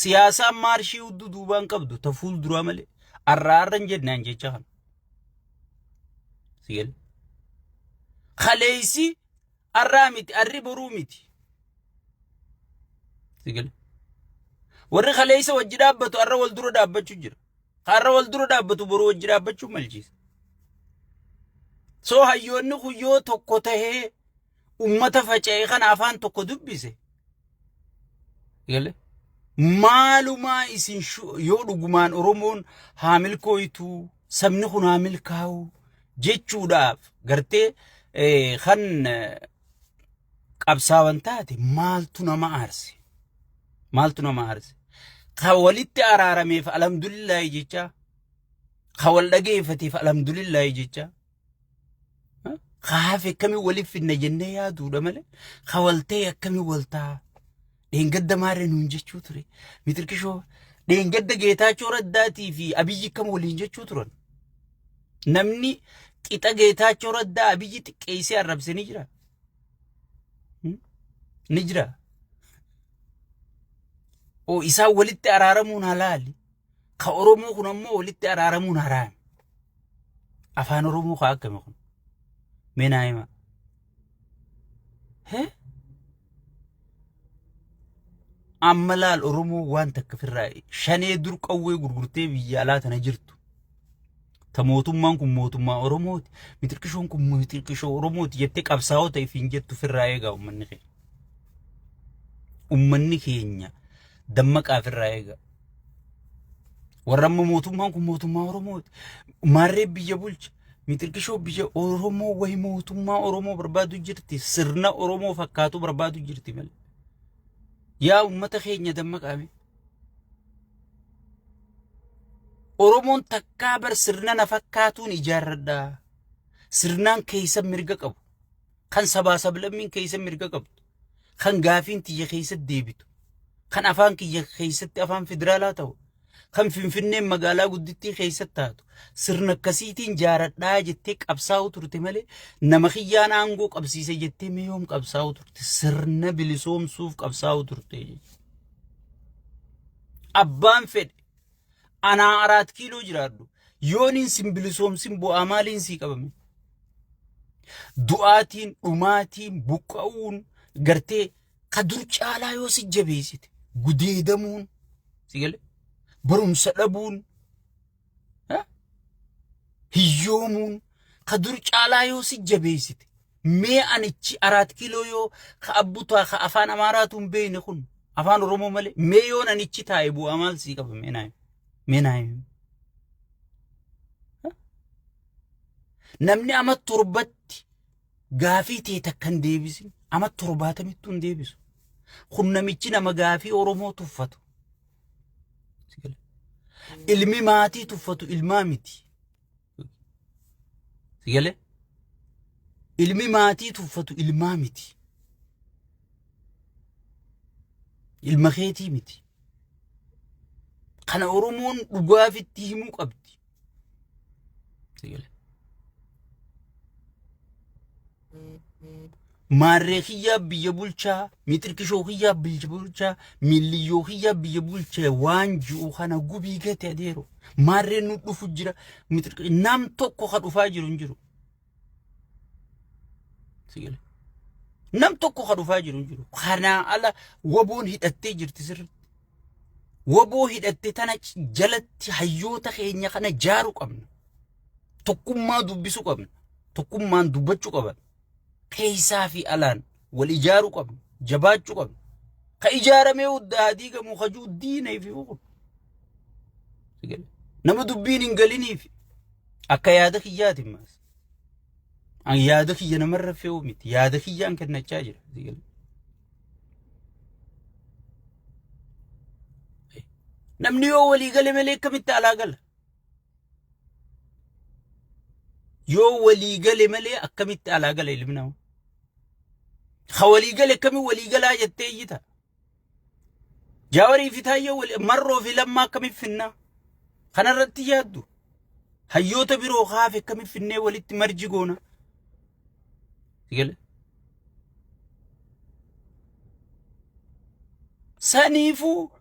Siyaasaan maarshii hudduu duubaan qabdu ta fuul duraa malee arraa arra hin jennaan jecha kana. Sigel. Kaleessi arraa miti arri boruu miti. Sigel. Warri kaleessa wajji dhaabbatu arra wal dura dhaabbachuu jira. Har'a wal dura dhaabbatu boruu wajji dhaabbachuu malchiisa. So hayyoonni kun yoo tokko tahee ummata faca'e kana afaan tokko dubbise gale maalumaa isin shu- yoo dhugumaan oromoon haa milkooytu sabni kun haa milkaa'u jechuudhaaf gartee eh, kan eh, qabsaawan taate maaltu nama aarse maaltu nama aarse ka walitti araarameef alhamdulillaahi jecha ka wal dhageeffateef alhamdulillaahi jecha Ka hafe akkamiin waliif fidna jennee yaaduudha malee ka wal ta'e akkamiin wal ta'a. Dheengadda maarree nuun jechuu ture. Mitirkishoo dheengadda Geetaachoo Raddaatii fi Abiyyi akkam waliin jechuu turan. Namni qixa Geetaachoo Raddaa Abiyyi xiqqeessee arrabse ni jira. Hmm? Ni jira. Oo isaan walitti araaramuun halaali. Ka Oromoo kun ammoo walitti araaramuun haraami. Afaan Oromoo kaa akkami kun? Mee naa himaa. Hee? Amma laal Oromoo waan takka firraa shanee dur qawwee gurgurtee biyya alaa tana jirtu. Ta mootummaan kun mootummaa Oromooti. Mixirqishoon kun mixirqishoo Oromooti jettee qabsaa'ota ifiin jettu firraa eegaa uummanni keenya. Uummanni keenya dammaqaa firraa eegaa. Warra amma mootummaan kun mootummaa Oromooti. Maarree biyya bulcha. Mixirqishoo biyya Oromoo wayi mootummaa Oromoo barbaadu jirti. Sirna Oromoo fakkaatu barbaadu jirti malee. Yaa uummata keenya dammaqaame. Oromoon takkaa bar sirna na fakkaatuun ijaarradha. Sirnaan keessa mirga qabu. Kan sabaa sablammiin keessa mirga qabdu. Kan gaafiin tiyya keessatti deebitu. Kan afaan kiyya keessatti afaan federaalaa ta'u. Kan Finfinneen magaalaa guddittii keessatti taatu. Sirna akkasiitiin jaaradhaa jettee qabsaa'uu turte malee nama kiyyaan aangoo qabsiise jettee mee yoom qabsaa'uu turte. Sirna bilisoomsuuf qabsaa'uu turte jechuudha. Abbaan fedhe anaa araat kiiloo jiraadhu yooniin sin bilisoomsin bu'aa maaliin sii qabame? Du'aatiin, dhumaatiin, buqqa'uun gartee ka dur caalaa yoo si jabeessite gudeedamuun si gale barumsa dhabuun hiyyoomuun ka dur caalaa yoo si jabeessite mee anichi araat kiiloo yoo ka abbutaa ka afaan amaaraatu hin beekne kun afaan oromoo malee mee yoo nanichi taa'e bu'aa maal sii qaba mee naayim mee naayim namni ama torbatti gaafii tee takka hin deebisin ama torbaatamittuu hin deebisu kun namichi nama gaafii oromoo tuffatu Ilmi maatii tuffatu ilmaa miti. Sigalee? Ilmi maatii tuffatu ilmaa miti. Ilma keetii miti. Kana Oromoon dhugaaf itti himuu qabdi. Sigalee? Maarree kiyyaa biyya bulchaa, miixirqishoo kiyyaa biyya bulchaa, miilliyyoo kiyyaa biyya bulchaa waan ji'u kana gubii gate adeero. Maarree nu dhufu jira. miixirqi- Nam tokko ka dhufaa jiru hin jiru. Sigale. Nam tokko ka dhufaa jiru hin jiru. Kanaa ala waboon hidhattee jirti sirriitti. Waboo hidhatte tana jalatti hayyoota keenya kana jaaru qabna. tokkummaa dubbisuu qabna. Tokkummaan dubbachuu qaban. Keessaa fi alaan wal ijaaruu qabna. Jabaachuu qabna. Ka ijaaramee huddaa haa diigamu hajuu diina ifi fuudhu. Nama dubbiin hin galiniif akka yaada kiyyaati maas. An yaada kiyya namarra fe'uu miti. Yaada kiyyaan kennachaa jira. Namni yoo walii gale malee akkamitti alaa gala? Yoo walii gale malee akkamitti alaa gala ilmi namaa? Ha walii gale akkamitti walii galaa jettee iyyita? Jaawarii fi Taayyee wal marroo fi lammaa akkamitti finnaa? Kanarratti yaaddu. Hayyoota biroo haafe akkamitti finnee walitti marji goona? Sigale. Saniifuu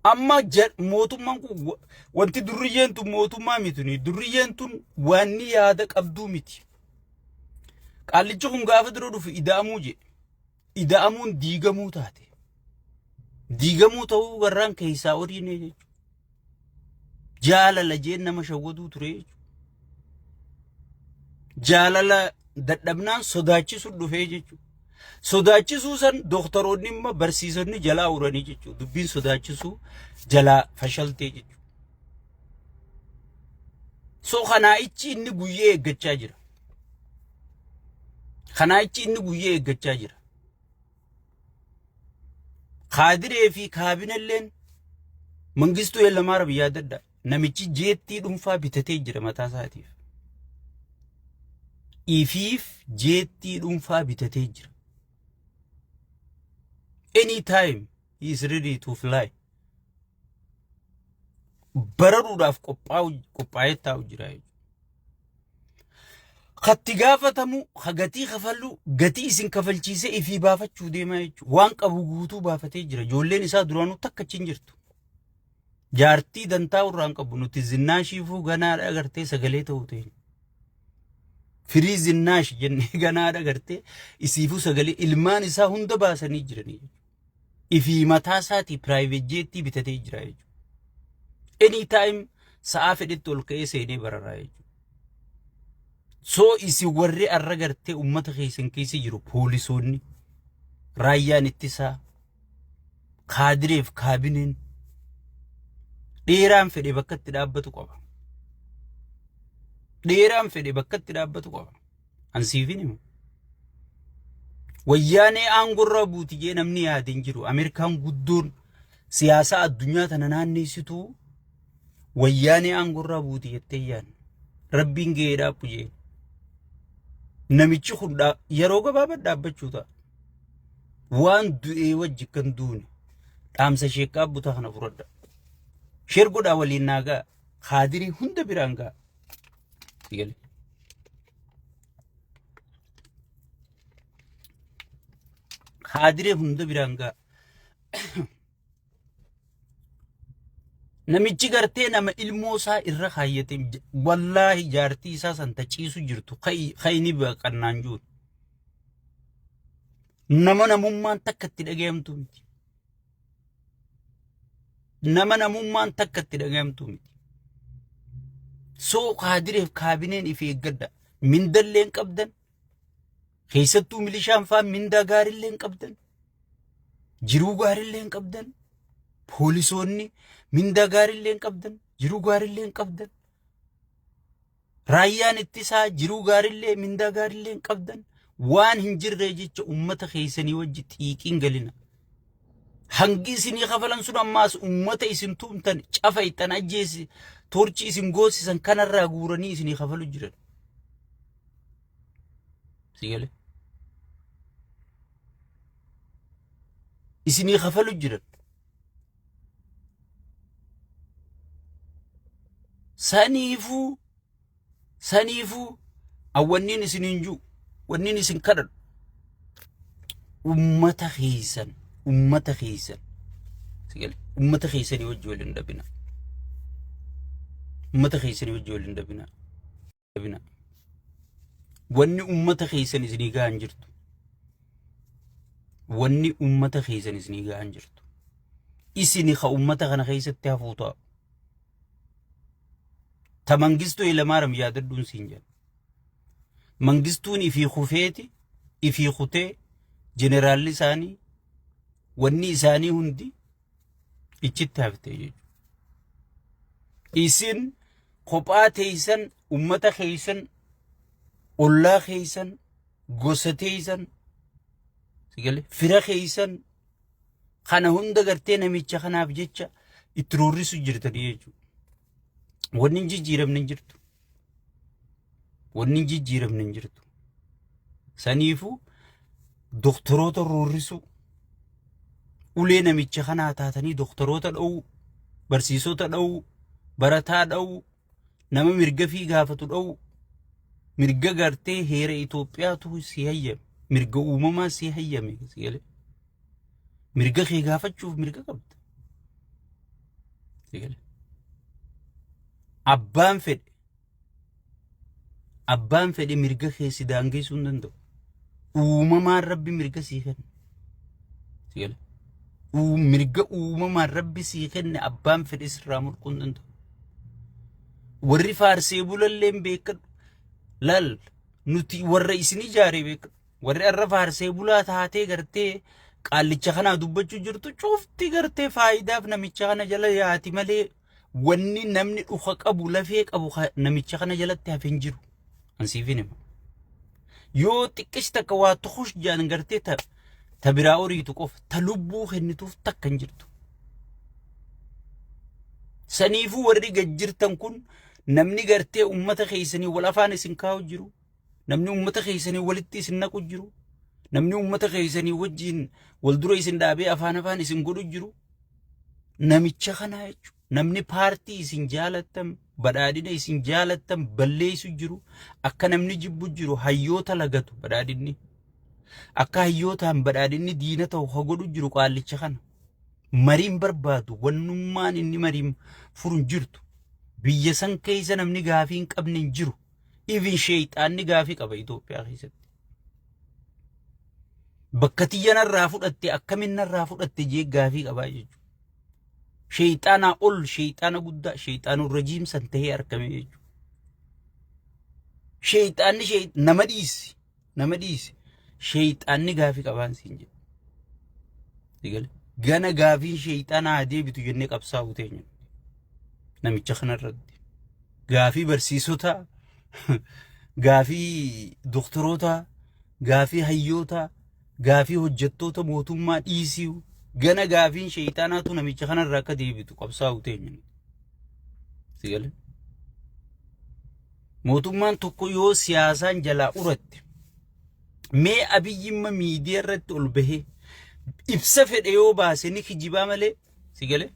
Amma ja- mootummaan kun wa- wanti durriyyeen tun mootummaa miti. nuyi. Durriyyeen tun waanni yaada qabduu miti. Qaallichi kun gaafa dura dhufu ida'amuu jedhe. Ida'amuun diigamuu taate. Diigamuu ta'uu warraan keessaa horiin jechuudha. Jaalala jeen nama shawwaduu ture jechuudha. Jaalala dadhabnaan sodaachisuun dhufee jechuudha. Sodaachisuu san dooktaroonni immoo barsiisonni jalaa uranii jechuudha. Dubbiin sodaachisuu jalaa fashaltee jechuudha. So kanaa ichi inni guyyee eeggachaa jira. Kanaa ichi inni guyyee eeggachaa jira. Kaadiree fi kaabinelleen Mangistuu Hayilamaara biyyaa dadda namichi jeettii dhuunfaa bitatee jira mataa isaatiif. Ifiif jeettii dhuunfaa bitatee jira. Any time he is ready to fly. bararuudhaaf qophaa'ee taa'u jira jechuudha. Katti gaafatamu ka gatii kafallu gatii isin kafalchiisee ifii baafachuu deemaa jechuudha. Waan qabu guutuu baafatee jira. Ijoolleen isaa duraanuu takka achi hin jirtu. Jaartii dantaa irraa hin qabu nuti zinnaashiifuu ganaadha agartee sagalee ta'uu ta'e. Firii zinnaash jennee ganaadha agartee isiifuu sagalee ilmaan isaa hunda baasanii jiranii jechuudha. ifii mataa isaatii private jettii bitatee jira jechuudha. Any time sa'aa fedhetti ol ka'ee seenee bararaa jechuudha. So isin warri arra gartee uummata keessan keessa jiru poolisoonni raayyaan ittisaa kaadireef kaabineen dheeraan fedhe bakkatti dhaabbatu qaba. Dheeraan fedhe bakkatti dhaabbatu qaba. An siifin himu. Wayyaanee aangorraa buuti jee namni yaade hin jiru. Ameerikaan guddoon siyaasaa addunyaa tana naanneessituu wayyaanee aangorraa buuti jettee yaadne. Rabbiin gahee dhaabbu jee. Namichi kun dhaa- yeroo gabaabaa dhaabbachuu ta'a. Waan du'ee wajji kan duune dhaamsa sheekaa butaa kana fudhadha. Sheer godhaa waliin naa ga'a. Kaadirii hunda biraan ga'a. Figali. Haadiree hunda biraan ga'a. Namichi gartee nama ilmoo isaa irra kaayyate wallaahi jaartii isaa san taciisu jirtu kayni baqannaan jiru. Nama namummaan takka itti dhagayamtu miti. nama namummaan takka itti dhagayamtuu miti. Soo kaadireef kaabineen ifi eeggadha. Mindallee hin qabdan. Keessattuu milishaan fa'aa mindaa gaarillee hin qabdan. Jiruu gaarillee hin qabdan. Poolisoonni mindaa gaarillee hin qabdan. Jiruu gaarillee hin qabdan. Raayyaan ittisaa jiruu gaarillee mindaa gaarillee hin qabdan waan hin jirree jecha ummata keessanii wajji xiiqiin galina. Hangi isinii kafalan sun ammaas ummata isin tuumtan cafa ittan ajjeesi torchi isin goosisan kanarraa guuranii isinii kafalu jiran. Sigale. Isinii kafalu jiran. Saniifuu saniifuu awwanniin isiniin jiru wanniin isin kadhadhu ummata keessan ummata keessan sigale ummata keessanii wajji wal hin dhabina ummata keessanii wajji wal hin dhabina dadhabina. Wanni ummata keessan isinii gahan jirtu. Wanni ummata keessan isinii gahan jirtu. Isini ka ummata kana keessatti hafuu ta'a. Ta mangistuu ilamaaram yaadadhuun siin jedha. Mangistuun ifii kufeeti ifii kutee jeneraalli isaanii wanni isaanii hundi iccitti hafte jechuudha. Isin kophaa teeysan ummata keeysan ollaa keeysan gosa teeysan sigale fira keeysan kana hunda gartee namicha kanaaf jecha itti roorrisu jirtanii jechuudha. Wanni hin jijjiiramne hin jirtu. Wanni hin jijjiiramne hin jirtu. Saniifuu doktoroota roorrisuu ulee namicha kanaa taatanii doktoroota dha'uu barsiisota dha'uu barataa dha'uu nama mirga fi gaafatu dha'uu mirga gartee heera Itoophiyaatu si hayyame mirga uumamaa si hayyame si galee. Mirga kee gaafachuuf mirga qabda. Eegale. Abbaan fedhe abbaan fedhe mirga kee si daangeessuu hin danda'u. Uumamaan rabbi mirga sii kenna. Eegale. Uu- Mirga uumamaan rabbi sii kenne abbaan fedhe sirraa mulquu hin danda'u. Warri faarsee bulalleen beekadhu. Laal nuti warra isin ijaare beekadhu. Warri arra faarsee bulaa taatee gartee qaallicha kanaa dubbachuu jirtu cufti gartee faayidaaf namicha kana jala yaati malee wanni namni dhuka qabu lafee qabu ka- namicha kana jalatti hafe hin jiru. Ansiifin hima. Yoo xiqqeessi takka waa tukush jaan gartee ta ta biraa horiitu qofa ta lubbuu kennituuf takka hin jirtu. Saniifuu warri gad jirtan kun namni gartee uummata keessanii wal afaan isin kaa'u jiru. namni uummata keessanii walitti isin naqu jiru namni uummata keessanii wajjin wal dura isin dhaabee afaan afaan isin godhu jiru namicha kana jechuudha. Namni paartii isin jaalattan badhaadhina isin jaalattan balleessu jiru akka namni jibbu jiru hayyoota lagatu badhaadhinni. Akka hayyootaan badhaadhinni diina ta'u ha godhu jiru qaallicha kana. Mariin barbaadu wannummaan inni mariin furu hin jirtu. Biyya san keessa namni gaafii hin qabne hin jiru. Even sheeyxaanni gaafii qaba Itoophiyaa keessatti. Bakka tiyya narraa fudhatte akkamiin narraa fudhatte jee gaafii qabaa jechuudha. Sheeyxaanaa ol sheeyxaana guddaa sheeyxaanuu rajiimsan ta'ee argame jechuudha. Sheeyxaanni nama dhiisi. Nama dhiisi. Sheeyxaanni gaafii qabaan siin jedhe. Eegale. Gana gaafiin sheeyxaanaa haa deebitu jennee qabsaa'uu teenya. Namicha kanarratti. Gaafii barsiisotaa, gaafii doktorootaa, gaafii hayyootaa, gaafii hojjettoota mootummaa dhiisii gana gaafiin sheeyxaanaatu namicha kanarraa akka deebitu qabsaa'uu teenya. Eegale. Mootummaan tokko yoo siyaasaan jalaa uratte mee abiyyimma miidiyaa irratti ol bahee ibsa fedhe yoo baase ni kijibaa malee si galee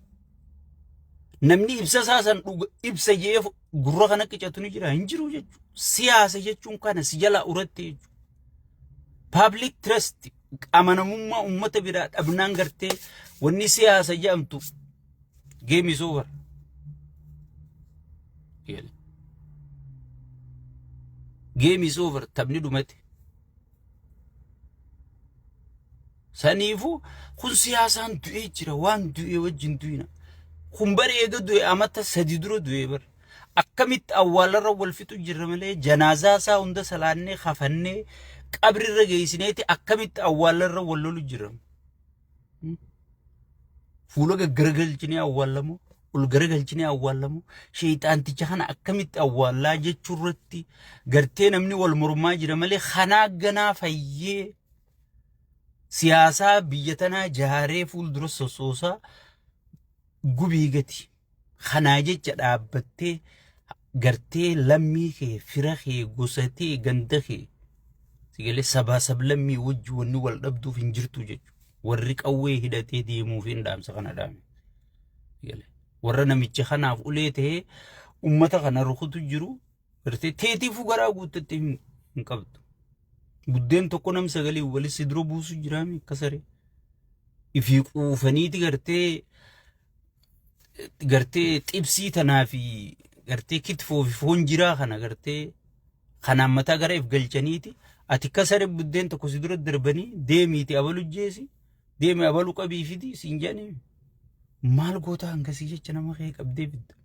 namni ibsa isaa san dhuga ibsa jee gurra kana qicatu ni jira hin jiru jechuudha. Siyaasa jechuun kana si jalaa uratte jechuudha. Public trust amanamummaa uummata biraa dhabnaan gartee wanni siyaasa jedhamtu Game is over. Jedhe. Game is over. Taphni dhumate. Saniifu kun siyaasaan du'ee jira. Waan du'ee wajjin du'ina. Kun bara eega du'e amata sadi dura du'e bara. Akkamitti awwaalarra wal fixu jirra malee janaazaa isaa hunda salaannee kafannee qabrirra geessineeti akkamitti awwaalarra wal lolu jirra. Fuula gaggaragalchinee awwaallamoo ol garagalchinee awwaallamoo sheexaanticha kana akkamitti awwaallaa jechuu irratti gartee namni wal mormaa jira malee kanaa ganaa fayyee siyaasaa biyya tanaa jaaree fuuldura sossoosaa gubii gati. Kanaa jecha dhaabbattee gartee lammii kee, fira kee, gosa tee, ganda kee sigalee sabaa sablammii wajji wanni wal dhabduuf hin jirtu jechuudha. Warri qawwee hidhatee deemuuf hin dhaamsa kana dhaame. Sigalee warra namicha kanaaf ulee ta'ee uummata kana rukutu jiru gartee teetiifuu garaa guuttattee hin hin qabdu. Buddeen tokko nam sagalee walitti dura buusu jiraame akka saree. Ifii quufaniiti gartee gartee xibsii tanaa fi gartee kitfoo fi foon jiraa kana gartee kanaan mataa gara if galchaniiti ati akka saree buddeen tokko si dura darbanii deemiiti abalu jeesi deemi abalu qabii fidi siin jedhanii maal goota hangasii jecha nama kee qabdee bidda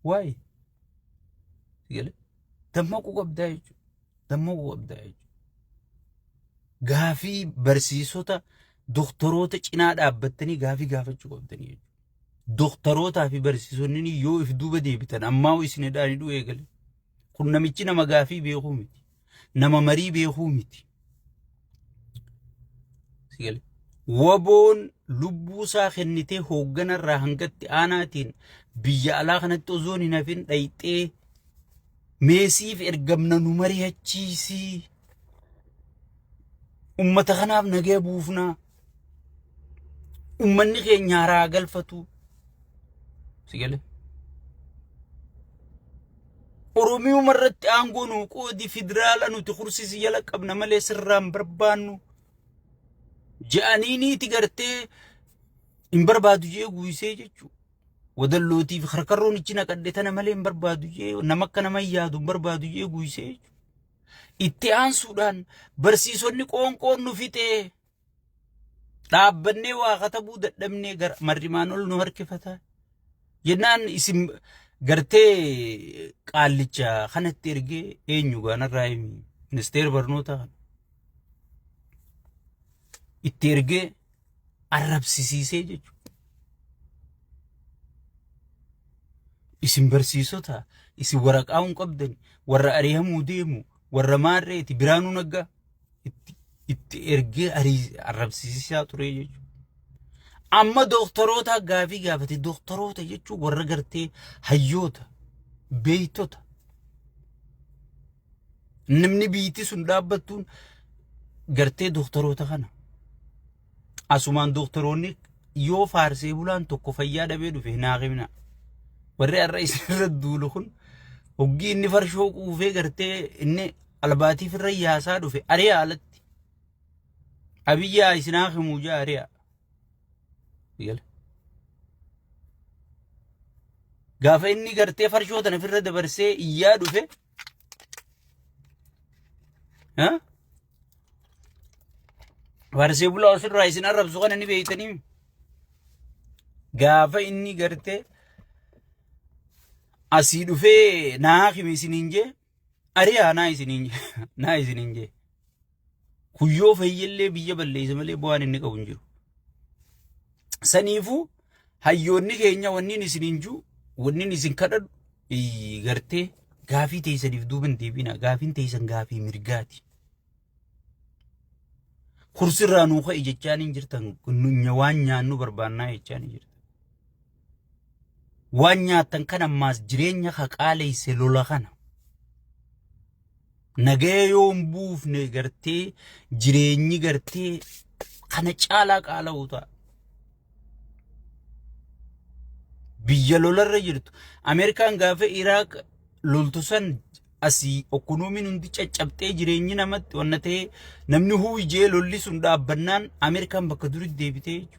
waa'ee galee dammaquu qabdaa jechuudha dammaquu qabdaa jechuudha gaafii barsiisota doktoroota cinaa dhaabbattanii gaafii gaafachuu qabdanii jechuudha. Doktorootaa fi barsiisonni yoo if duuba deebitan ammaa hoo isin hidhaan hidhuu eegale. Kun namichi nama gaafii beekuu miti. Nama marii beekuu miti. Si gale. Waboon lubbuu isaa kennitee hoogganarraa hangatti aanaatiin biyya alaa kanatti osoon hin hafin dhayxee meesiif ergamna nu mari'achiisii. Ummata kanaaf nagaya buufnaa. Ummanni keenya haraa galfatuu. Si galee? Oromiyuma irratti aangoo nuu qoodi federaala nuti kursisi jala qabna malee sirraan barbaannu ja'aniiniiti gartee hin barbaadu jee guuysee jechuu wadallootiif karkarroon ichi naqadhe tana malee hin barbaadu jee nama akka nama hin yaadu hin barbaadu jee guuysee jechuu Itti aansuudhaan barsiisonni qoonqoon nu fixee dhaabbannee waa katabuu dadhabnee gara marrimaan ol nu harkifata. Jennaan isin gartee qaallicha kanatti ergee eenyu gaanarraa himi ministeera barnootaa kana. Itti ergee arrabsisiisee jechuudha. Isin barsiisota, isin waraqaa hin qabdan, warra ari'amuu deemu, warra maarreeti, biraanuu naggaa itti, itti ergee arii- arrabsisiisaa ture jechuudha. Amma dooktaroota gaafii gaafate, dooktaroota jechuun warra gartee hayyoota, beektota, Namni biyyittii sun dhaabbattuun gartee dooktaroota kana. Asumaan dooktaroonni yoo faarsee bulaan tokko fayyaa dhabee dhufe naa himna. Warri har'a isinirra duulu kun hoggii inni farshoo quufee gartee inni albaatiif irra yaasaa dhufe ari'a alatti. Abiyyaa isinaa himuu jaa ari'a. Gala. Gaafa inni gartee farshoo tana ofirra dabarsee iyyaa dhufe Farsee bulaa ofirraa isin arrabsu kana ni beektanii gaafa inni gartee asii dhufee naa himi isiniin jee ari'aa naa isiniin jee naa isiniin jee. Kun yoo fayyellee biyya balleessa malee bu'aan inni qabu hin jiru. Saniifuu hayyoonni keenya wanniin isin hin jiru wanniin isin kadhadhu iyyi gartee gaafii teessaniif duuba hin deebina gaafiin teessan gaafii mirgaati. Kursirraa nuu ka'i jechaan hin jirtan nunya waan nyaannu barbaannaa jechaan hin jirtan. Waan nyaattan kan ammaas jireenya haqaaleesse lola kana. Nagaya yoo hin buufne gartee jireenyi gartee kana caalaa qaala'u ta'a. Biyya lolarra jirtu. Ameerikaan gaafa Iraaq loltu san asii ekonomiin hundi caccabxee jireenyi namatti wanna ta'ee namni huujee lolli sun dhaabbannaan Ameerikaan bakka duritti deebitee jechuudha.